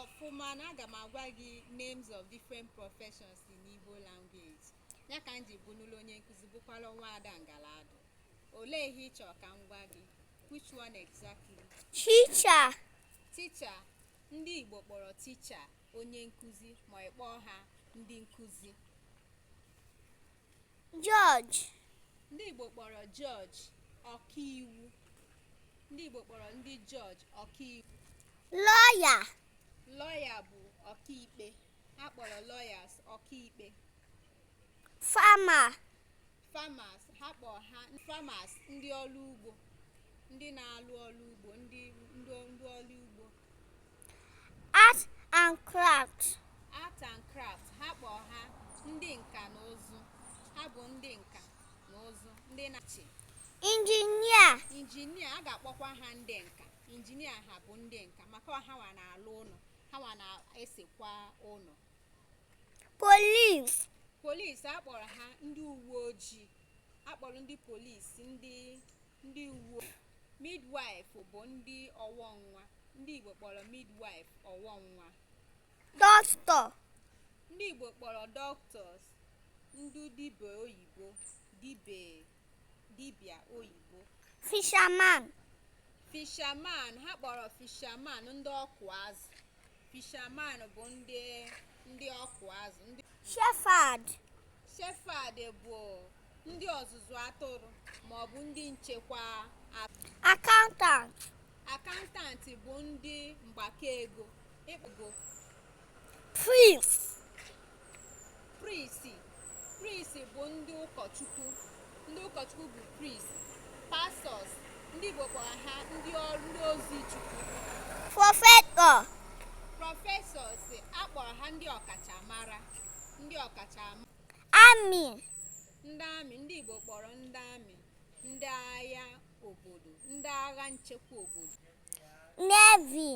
ọfụma na aga m agwa gị names of different professions in Igbo language ya ka m ji bụnụlụ onye nkụzi bụkwala nwa Ada Ngaladu olee ihe ị chọrọ ka m gwa gị which one exactly teacher teacher ndị Igbo kpọrọ teacher onye nkụzi ma ị kpọọ ha ndị nkụzi Judge. Ndị Igbo kpọrọ judge ọkaiwu. Ndị Igbo kpọrọ ndị judge ọkaiwu. Lawyer. Lawyer bụ ọkaikpe. A kpọrọ lawyers ọkaikpe. Farmer. Farmers ha kpọrọ ha farmers ndị ọlụ ugbo ndị na-alụ ọlụ ugbo ndị ọlụ ugbo Art and craft. Art and craft ha kpọrọ ha ndị nka na ụzụ ha bụ ndị nka na ụzụ ndị na-achị Engineer. engineer a ga-akpọkwa ha ndị nka engineer ha bụ ndị nka maka ọ hawa na-alụ ụnọ hawa na-esekwa ụnọ Police. police a kpọrọ ha ndị uwe ojii a kpọrọ ndị police ndị ndị uwe midwife bụ ndị ọwọ nwa ndị Igbo kpọrọ midwife ọwọ nwa doctor ndị Igbo kpọrọ doctors ndị dibịa oyibo dibịa oyibo fisherman fisherman ha kpọrọ fisherman ndị ọkụ azụ fisherman bụ ndị ọkụ azụ shepherd shepherd bụ ndị ọzụzụ atụrụ ma ọ bụ ndị nchekwa atụrụ Accountant. accountant bụ ndị mgbakọ ego Priest. priest bụ ndị ụkọchukwu ndị ụkọchukwu bụ priest pastors ndị Igbo kpọrọ ha ndị ozi Chukwu Professor. professors a kpọrọ ha ndị ọkachamara ndị ọkachamara army ndị army ndị Igbo kpọrọ ndị army ndị agha obodo ndị agha nchekwa obodo navy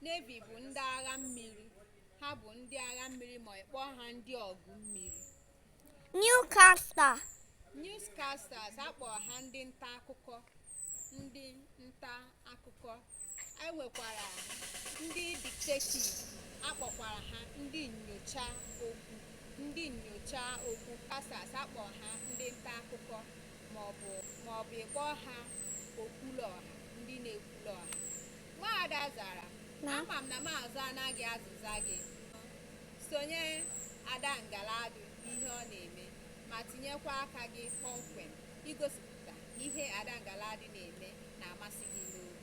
navy bụ ndị agha mmiri ha bụ ndị agha mmiri ma ị kpọọ ha ndị ọgụ mmiri Newscaster newscasters a kpọrọ ha ndị nta akụkọ ndị nta akụkọ e nwekwara ndị detective a kpọkwara ha ndị nnyocha okwu ndị nnyocha okwu casters a kpọ ha ndị nta akụkọ maọbụ ị kpọọ ha okwulu ọha ndị na-ekwulu ọha nwaada Zara ama m na m azaana gị azịza gị sonye Ada Ngaladu ihe ọ na-eme ma tinyekwa aka gị kpọmkwem igosipụta ihe ada ngaladi na-eme na-amasị gị n'obi